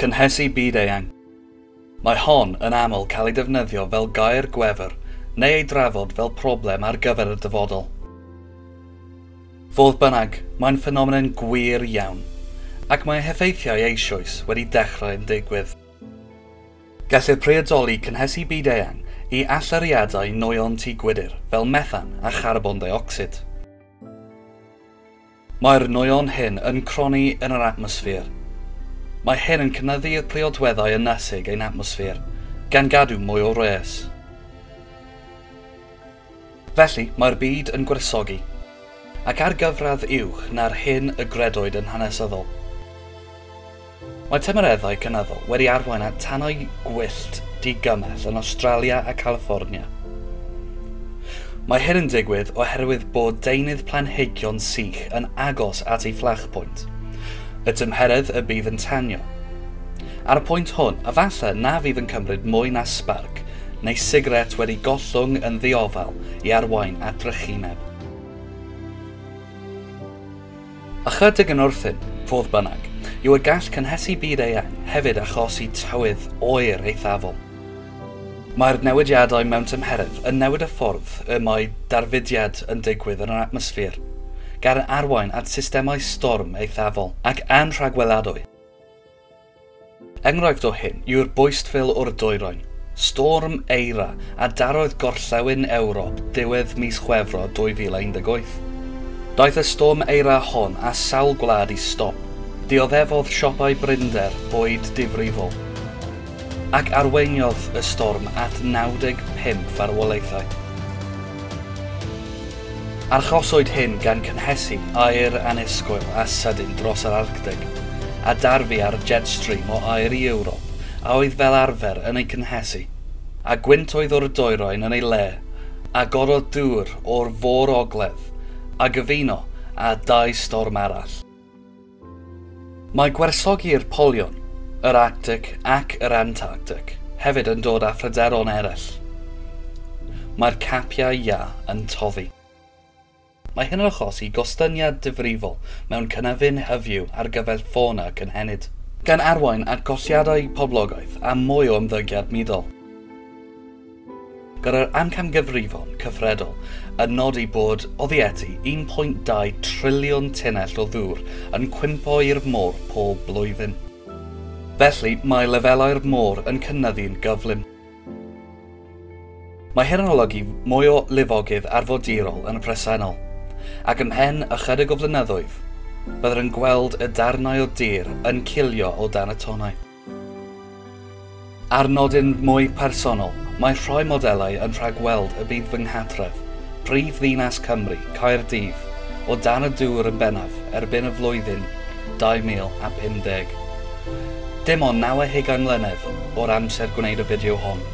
Cynhesu byd-eang. Mae hon yn aml cael ei defnyddio fel gair gwefr neu ei drafod fel problem ar gyfer y dyfodol. Fodd bynnag, mae'n ffenomen gwir iawn, ac mae heffeithiau eisoes wedi dechrau yn digwydd. Gellir priodoli cynhesu byd-eang i allyriadau nwyon tŷ gwydr fel methan a charbon deuocsid. Mae'r nwyon hyn yn cronni yn yr atmosffer. Mae hyn yn cynyddu i'r priodweddau ynasig ein atmosffer, gan gadw mwy o wres. Felly, mae'r byd yn gwresogi. Ac ar gyfradd uwch na'r hyn y gredoed yn hanesyddol. Mae tymereddau cynyddol wedi arwain at tanau gwyllt digymell yn Awstralia a Califfornia. Mae hyn yn digwydd oherwydd bod deunydd planhigion sych yn agos at ei fflachpwynt, y tymheredd y bydd yn tanio. Ar y pwynt hwn, efallai na fydd yn cymryd mwy na sbarc neu sigaret wedi gollwng yn ddiofal i arwain at drychineb. Ychydig yn wrthun, fodd bynnag, yw y gall cynhesu byd eang hefyd achosi tywydd oer eithafol. Mae'r newidiadau mewn tymheredd yn newid y ffordd y mae darfudiad yn digwydd yn yr atmosffer, gan arwain at systemau storm eithafol ac anrhagweladwy. Enghraifft o hyn yw'r boistfil o'r dwyrain, Storm Eira, a darodd gorllewin Ewrop ddiwedd mis Chwefror 2018. Daeth y Storm Eira hon â sawl gwlad i stop, dioddefodd siopau brinder bwyd difrifol, ac arweiniodd y storm at 95 farwolaethau. Arhoswyd hyn gan cynhesu aer annisgwyl a sydyn dros yr Arctig, a darfu ar jet stream o aer i Ewrop a oedd fel arfer yn ei cynhesu, a gwynt oedd o'r dwyrain yn ei le, agorodd dŵr o'r Fôr Ogledd, a gyfuno â dau storm arall. Mae gwersyllau'r polion, yr Arctic ac yr Antarctic hefyd yn dod â phryderon eraill. Mae'r capiau iâ yn toddi. Mae hyn yn achosi gostyngiad difrifol mewn cynefin hyfyw ar gyfer ffona cynhenid. Gan arwain at golliadau poblogaeth a mwy o ymddygiad muddol. Gan yr amcangyfrifon cyfredol yn nodi bod oddi at 1.2 triliwn tunnell o ddŵr yn cwympo i'r môr pob blwyddyn. Felly, mae lefelau'r môr yn cynyddu'n gyflym. Mae hyn yn olygu mwy o lifogydd arfordirol yn y presennol, ac ymhen ychydig o flynyddoedd, byddwn yn gweld y darnau o dir yn cilio o dan y tonnau. Ar nodyn mwy personol, mae rhoi modelau yn rhagweld y bydd fy nghartref, prif ddinas Cymru, Caerdydd, o dan y dŵr yn bennaf erbyn y flwyddyn 2050. Dim ond naw a hugain mlynedd o'r amser gwneud y fideo hon.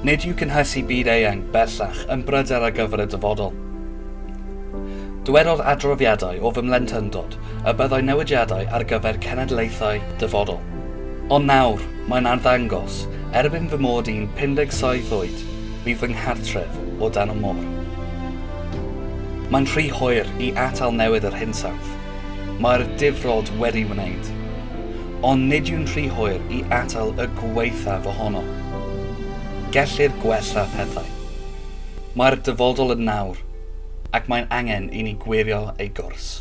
Nid yw cynhesu byd eang bellach yn bryder ar gyfer y dyfodol. Dywedodd adroddiadau o fy mhlentyndod y byddai newidiadau ar gyfer cenedlaethau dyfodol. Ond nawr, mae'n arddangos, erbyn fy mod i'n 57 oed, bydd fy nghartref o dan y môr. Mae'n rhy hoer i atal newid yr hinsawdd. Mae'r difrod wedi wneud. Ond nid yw'n rhy hoer i atal y gwaethaf ohono. Gellir gwella pethau. Mae'r dyfodol yn nawr, ac mae'n angen i ni gwirio ei gwrs.